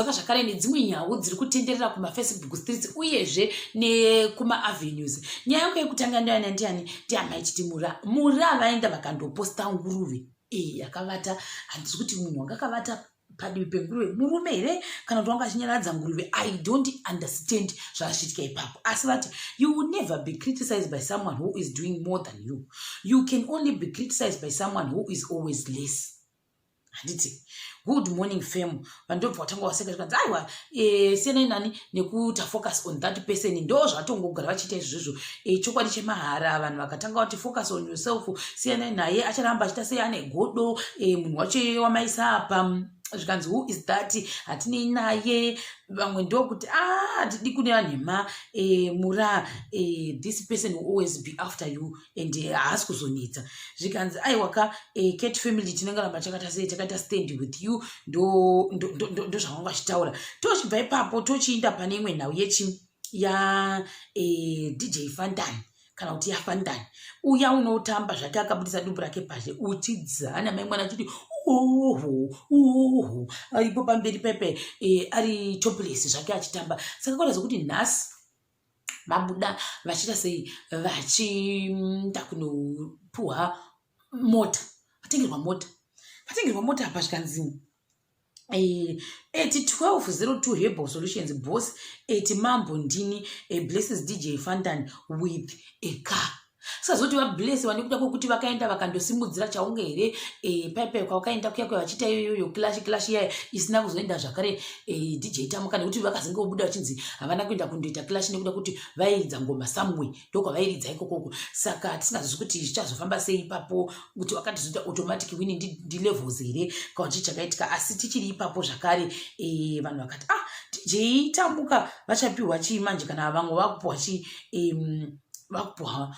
Saka zvakare nedzimwe nhau dziri kutenderera kumafacebook streets uyezve nekumaavenues nyaya yangu yekutanga ndoyana ndiani ndiamai chiti mura mura vaenda vakandoposta nguruve iyi yakavata handisi kuti munhu wanga akavata padivi penguruve murume here kana kuti wanga achinyaradza nguruve i don't understand zvaachiitika ipapo asi vati you will never be criticized by someone who is doing more than you you can only be criticized by someone who is always less handiti good morning fam vandobva watanga waseka zvikanzi aiwa eh, siyanai nani nekuita focus on that person ndo zvatongogara vachiita izvozvo eh, chokwadi chemahara vanhu vakatanga vati focus on yourself siyanai naye acharamba achiita sei ane godo eh, munhu wacho iye wamaisa apa zvikanzi who is that hatinei naye vamwe ndokuti a ah, hatidi kune vanhema mura this person will always be after you and eh, haasi kuzonetsa zvikanzi aiwa ka eh, cat family tinenge ramba chakata sei takaita stand with you ndozvavanga vachitaura tochibva ipapo tochiinda pane imwe nhau yechi ya eh, dj fantan kana kuti yafantan uya unotamba zvake akabudisa dumbu rake pazhe uchidzana mai mwana achiti uhu uhu aripo pamberi pepe ari topless zvake achitamba saka kwada zvokuti nhasi vabuda vachiita sei vachiita kunopuhwa mota vatengerwa mota vatengerwa mota apa zvikanzi eh, at 1202 hebal solutions boss at mambo ndini a blesses dj fantan with a car sazoti vablesiwa nekuda kwekuti vakaenda vakandosimudzira chaunge here eh, paipai kwavakaenda kuya kuya vachiita iyoyoyo kilashi kilashi iyayo isina kuzoenda zvakare eh, dj tamuka nekuti vakazenge kubuda vachinzi havana kuenda kundoita kilashi nekuda kuti vairidza ngoma samwe ndokwavairidza ikokoko saka tisingazivi kuti zvichazofamba sei ipapo kuti wakatizoita automatic wini ndilevels here kana chii chakaitika asi tichiri ipapo zvakare eh, vanhu vakati ah dj tamuka vachapiwa chii manje kana vamwe vakupiwa chii vakupuwa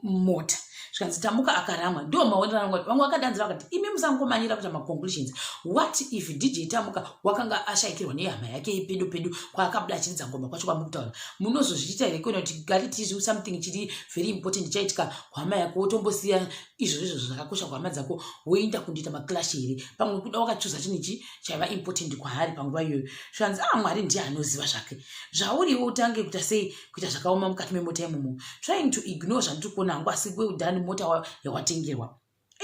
mota zvikanzi tamuka akaramwa ndiwo maonero angu vamwe vakadanzira vakati imi musangomanira kuita maconclusions what if dj tamuka wakanga ashaikirwa nehama yake yepedo pedo kwaakabuda achiridza ngoma kwacho kwamukutaura munozozviita here kuona kuti gari tizi something chiri very important chaitika hama yako wotombosiya izvozvo izvozvo zvakakosha kuhama dzako woenda kundiita maclash here pamwe kuda wakachuza chinhu ichi chaiva important kwaari panguva iyoyo zvikanzi a ah, mwari ndiye anoziva zvake zvauriwo utange kuita sei kuita zvakaoma mukati memota imomo trying to ignore zvandiri kuona hangu asi well done mota yawatengerwa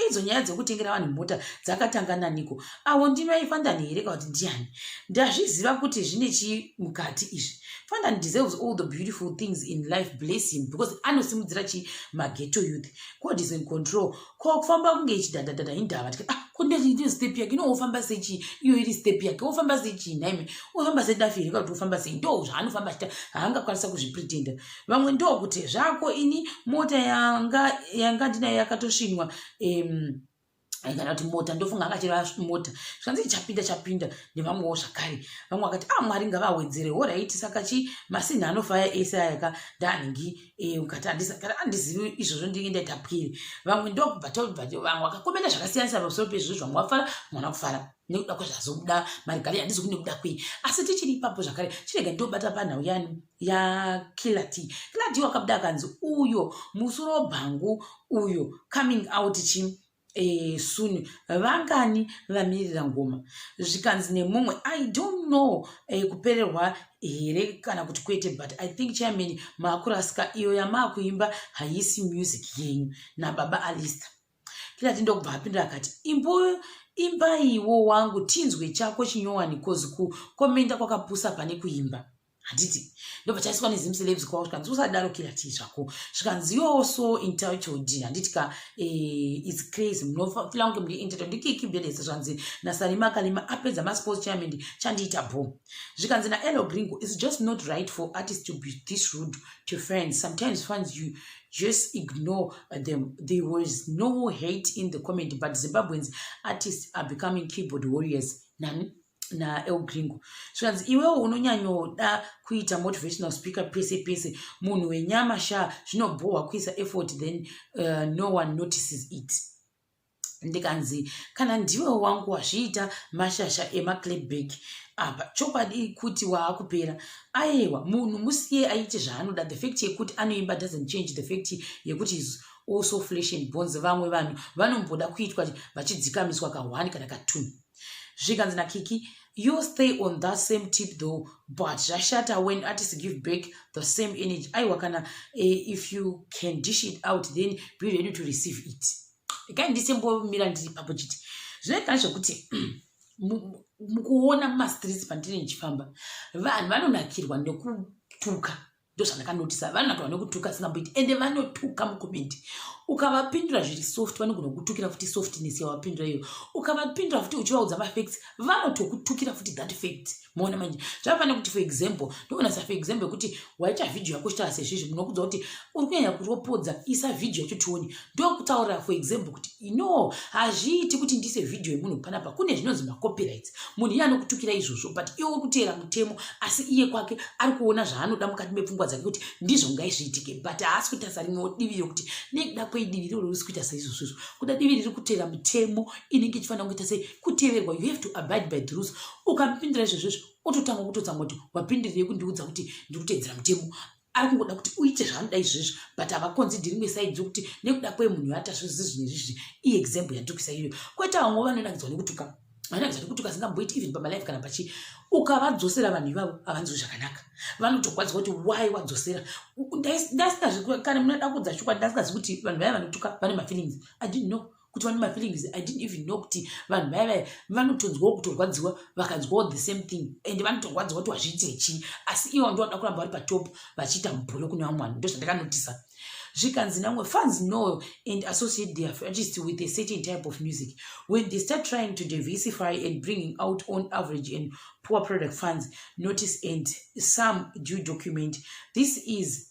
idzo nyaya dzekutengera vanhu mota dzakatanga naniko avo ndimai fandani here ka kuti ndiani ndazviziva kuti zvine chii mukati izvi fandani deserves all the beautiful things in life bless him because anosimudzira chii mageto youth god is in control ko kufamba kunge ichidhadhadhadha indava tika ah ko ndezviito step yake ino wofamba sechii iyo iri step yake wofamba sechii nhaime wofamba sedafi here kuti wofamba sei ndo zvaanofamba achita haangakwanisa kuzvipretenda vamwe ndo kuti zvako ini mota yanga yanga ndinayo yakatosvinwa um, kana kuti mota ndofunga akachera mota zvikanzi chapinda chapinda nevamwewo zvakare vamwe vakati a ah, mwari ngavawedzere horaiti saka chi masinhi anofaya ese ayaka ndaanhingi Eh, ukati andizivi izvozvo ndinge ndaita pwiri vamwe ndokubva tobva vamwe vakakomenda zvakasiyanisa pamusoro pezvizvo zvamwe wafara mwana kufara nekuda kwezvazobuda marigari handizi kunekuda kwei asi tichiri ipapo zvakare chirega ndobata panhau yani yakilati kilati wakabuda akanzi uyo musoro bhangu uyo coming out chi e, soon vangani vamirira ngoma zvikanzi nemumwe i don't know e, kupererwa here kana kuti kwete but i think chairman maakurasika iyo yamaakuimba haisi music yenyu nababa alista kirati ndokubva apindura akati imbo imbaiwo wangu tinzwe chako chinyowani kozi kukomenda kwakapusa pane kuimba handiti ndobva chaiswa nezim celebs kwavo zvikanzi usadaro kira chii zvako zvikanzi yoo so entitled handiti ka eh, its crazy munofila kunge muri entitled ndikiki belese zvanzi nasarima kalima apedza masports chairman chandiita bho zvikanzi naelo gringo its just not right for artist to be this rude to friends sometimes funds you just ignore them there was no hate in the comment but zimbabweans artists are becoming keyboard warriors nani naelgringo zvikanzi iwewo unonyanyoda kuita motivational speaker pese pese munhu wenyama sha zvinobhohwa kuisa effort then uh, no one notices it ndikanzi kana ndiwe wangu wazviita mashasha emaclebback apa chokwadi kuti waakupera ayewa munhu musiye aite zvaanoda the fact yekuti anoimba doesn't change the fact yekuti also flesh and bones vamwe vanhu vanomboda kuitwa vachidzikamiswa kahwani kana katunu zvikanzi nakiki you stay on that same tip though but zvashata when artists give back the same energy aiwa kana uh, if you can dish it out then be ready to receive it ikai ndisembomira ndiri papo chiti zvinoita zvekuti mukuona mumastreets pandine ndichifamba vanhu vanonakirwa nekutuka ndozvandakanotisa vanhu vato vanokutuka singamboiti ende vanotuka mukomendi ukavapindura zviri soft vanogona kukutukira futi softness yawapindura iyo ukavapindura futi uchivaudza mafacts vanotokutukira futi that fact moona manje zvavafana kuti for example ndoona sa for example yekuti waita vhidhiyo yako chitaura sezvizvi munokudza kuti uri kunyanya kuropodza isa vhidhiyo yacho tione ndokutaura for example kuti no hazviiti kuti ndise vhidhiyo yemunhu panapa kune zvinonzi macopyrights munhu iye anokutukira izvozvo but iye uri kuteera mutemo asi iye kwake ari kuona zvaanoda mukati mepfungwa dzake kuti ndizvo ngaizviitike but haasi kutarisa rimwewo divi rekuti nekuda kwei divi iroro riri kuita seizvozvo izvo kuda divi riri kuteera mutemo inenge ichifanira kuita sei kuteverwa you have to abide by the rules ukamupindira izvozvo izvo ototanga kutotsa moti wapindirei kundiudza kuti ndiri kuteedzera mutemo ari kungoda kuti uite zvanoda izvezvi but havakonzi ndiri mesaidzi yokuti nekuda kwe munhu yatasvo zizvi nezvizvi iexample yanditukisa iyoyo kwete vamwe vanonakidzwa nekutuka vanonakidzwa nekutuka singamboiti even pamalife kana pachi ukavadzosera vanhu ivavo havanzwi zvakanaka vanotogwadzwa kuti why wadzosera ndaisingazvi kana munoda kudza chokwadi ndasingazi kuti vanhu vaya vanotuka vane mafeelings i didn't know kutova nemafeelings i didn't even know kuti vanhu vaya vaya vanotonzwawo kutorwadziwa vakanzwawo the same thing and vanotorwadziwa kuti vazviite chii asi ivo ndovanoda kuramba vari patop vachiita mubholo kune vamwe vanhu ndozvandakanotisa zvikanzi namwe fans know and associate their artist with a certain type of music when they start trying to diversify and bringing out on average and poor product funds notice and some due document this is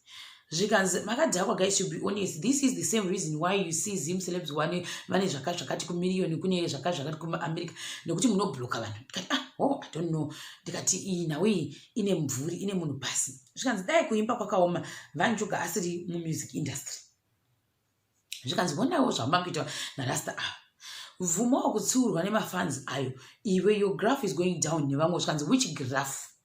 zvikanzi makadhakwa guys to be honest this is the same reason why you see zim celebs one vane zvaka zvakati kumirioni kune zvaka zvakati kumaamerica nekuti munobloka vanhu ndikati ah oh i don't know ndikati iyi nhau iyi ine mvuri ine munhu pasi zvikanzi dai kuimba kwakaoma vanjuga asiri mumusic industry zvikanzi wonawo zvamakuita narasta ava bvumawo kutsiurwa nemafans ayo iwe your graph is going down nevamwe zvikanzi which graph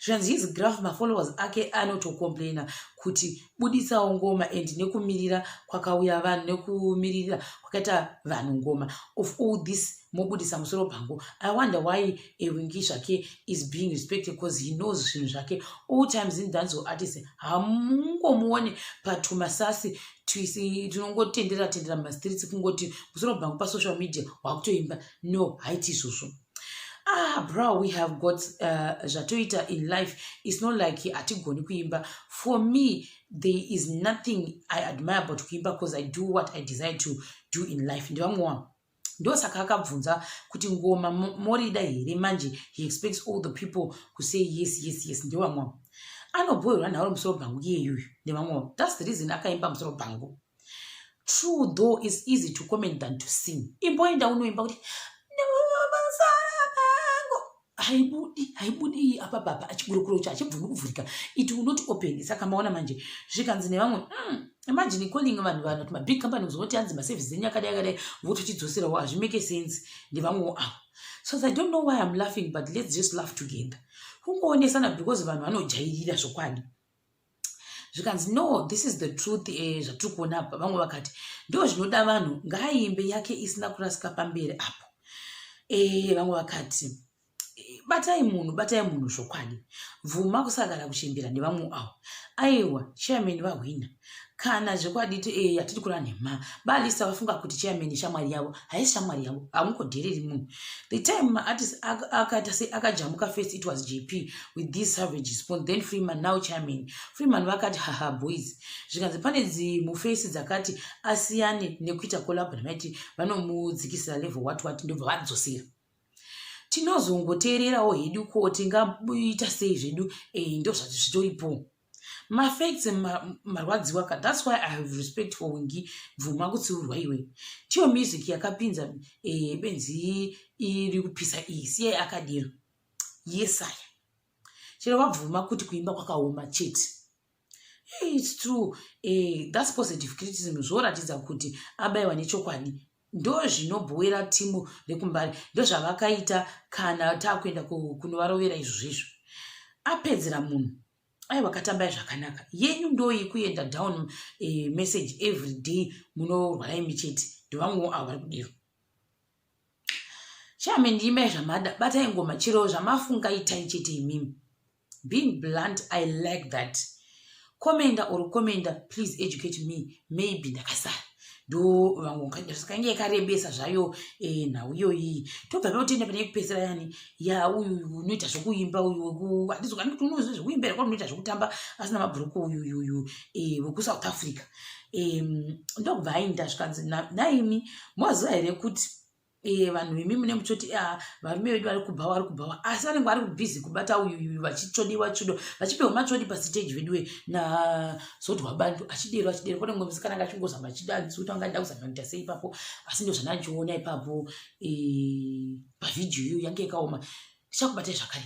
zvikanzi his graph mafollowers ake anotocomplaina kuti buditsawo ngoma and nekumirira kwakauya vanhu nekumirira kwakaita vanhu ngoma of all this mobudisa musoro pangu i wonder why ewingi zvake is being respected because he knows zvinhu zvake all times in danzo artist hamungomuone patumasasi tinongotendera tendera mumastreets kungoti musoro bhangu pasocial media wakutoimba no haiti izvozvo ah bro we have got uh, zvatoita in life its not like hatigoni kuimba for me there is nothing i admire about kuimba because i do what i desire to do in life ndivamwe wavo ndosaka akabvunza kuti ngoma morida here manje he expects all the people kusay yes yes yes ndevamwe avo anobhoerwa nharo musoro bhangu iyeyuyu nevamwe avo thats the reason akaimba musoro bhangu true though is easy to comment than to sing imboenda unoimba kuti haibudi haibudi iyi apa baba achiburukuro ucho achibvumi kuvhurika it will not open saka maona manje zvikanzi nevamwe mm, imagine calling vanhu vanhu kuti mabig company kuzongoti anzi maservice enyu akadai akadai vototidzoserawo hazvimake sense ndevamwewo avo so i don't know why iam laughing but let's just laugh together kungoonesana because vanhu vanojairira zvokwadi zvikanzi no this is the truth eh, zvatiri kuona apa vamwe vakati ndo zvinoda vanhu ngaaimbe yake isina kurasika pamberi apo eh, vamwe vakati eh, batai munhu batai munhu zvokwadi bvuma kusagara kuchimbira nevamwe avo aiwa chairman vahwina kana zvekwaditi e eh, hatidi kura nhema balisa vafunga kuti chairman shamwari yavo haisi shamwari yavo hamungodhereri munhu the time maatis akaita se akajamuka first it was jp with this savage spoon then freeman now chairman freeman vakati haha boys zvikanzi pane dzimufesi dzakati asiyane nekuita kolabo namaiti vanomudzikisira level wat wat ndobva vadzosera tinozongoteererawo hedu ko tingaita sei zvedu e eh, ndozvati zvitoripo mafacts marwadziwa ka thats why i have respect for wingi bvuma kutsiurwa iwe tiyo music yakapinza eh, benzi iri kupisa iyi siyai akadero yesaya chero vabvuma kuti kuimba kwakaoma chete its true eh, thats positive criticism zvoratidza kuti abaiwa nechokwadi ndozvinobhowera timu rekumbare ndozvavakaita kana taakuenda kunovarovera izvo zvizvo apedzera munhu ai vakatambai zvakanaka yenyu ndoyi kuenda down eh, message every day munorwara imi chete ndovamwewo avo vari kudiro chame ndiimai zvamada batai ngoma chero zvamafunga itai chete imimi being blunt i like that commenda or commenda please educate me maybe ndakasara ndo vangukange yakarebesa zvayo eh, nhau iyoyi tobva notenda pane kupedzisira yani ya uyu unoita zvekuimba uyu handizokani kuti unoziva zvekuimba here kwaunoita zvekutamba asina mabhuruku uyuyuyu eh, wekusouth africa ndokubva aindasvikanzi naimi moziva here kuti e, vanhu imi mune muchoti ah, varume vedu vari kubha wari kubhawa asi vanenge vari kubhizi kubata uyuyu vachitsvodiwa tsvodo vachipiwa matsvodi pasiteji veduwe nazodwa bantu achidero achidero kone mumwe musikana anga achingozama achidanzi kuti anga aida kuzama kuita sei ipapo asi ndo zvandachiona ipapo e, pavhidhiyo iyo yange yakaoma ndichakubatai zvakare